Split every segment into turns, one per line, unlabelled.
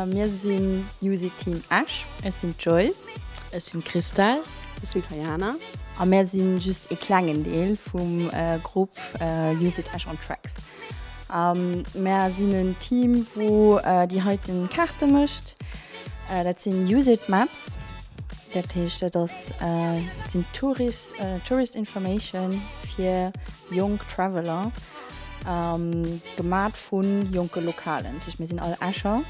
Mir sinn Juicy Team Esch. Ech sinn d'Joy. Ech sinn
d'Christelle. Ech sinn d'Tayana.
A mir sinn
just ee klengen Deel vum Grupp Juicy Esch on Tracks. Mir sinn en Team wou déi heiten Kaarte mécht. Dat sinn Juicy Maps. Dat heescht dat ass sinn Tourist Tourist Information fir jonk Traveler gemat vun jonke Lokalen. Dat heescht mir sinn all Escher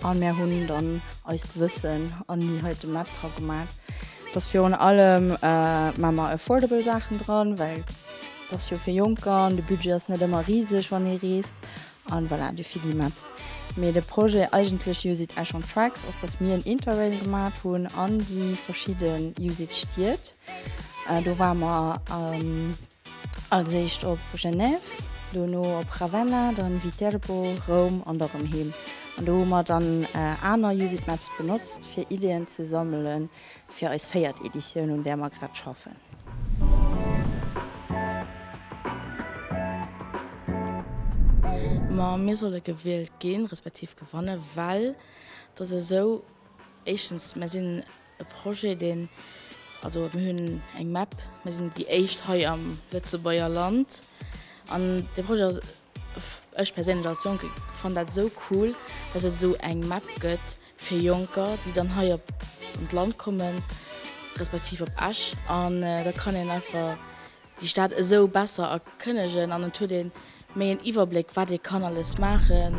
an mir hunn dann eist Wëssen an hunn hei de Map dra gemat. Et ass virun allem maa mer affordable Saachen dran well et ass jo fir Jonker an de Budget ass net ëmmer riseg wann ee reest An voilà, de Figgy Mapps. Mee de Projet eigentlech Use it Esch on Tracks ass, dass mir en Interrail gemat hunn an déi verschidde Use it Stied. Do ware mer als éischt op Genève, dono op Ravenna, dann Viterbo, Roum an da rëm heem. An do hu mer dann aner Use it Mapps benotzt fir Ideen ze sammelen. fir eis véiert Editioun, un där mer grad schaffen.
Ma mir solle gewielt ginn, respektiv gewannen, well et ass esou, éischtens, mer sinn e Projet, deen, also mir hunn eng Map, mir sinn déi éischt hei am Lëtzebuerger Land an dee Projet ass, Ech perséinlech als Jonke fannen dat esou cool, dass et esou eng Map gëtt fir Jonker, déi dann hei op d'Land kommen, respektiv op Esch. An da kann een einfach déi Stad esou besser erkënnegen an et huet ee méi en Iwwerbléck, wat ee kann alles maachen.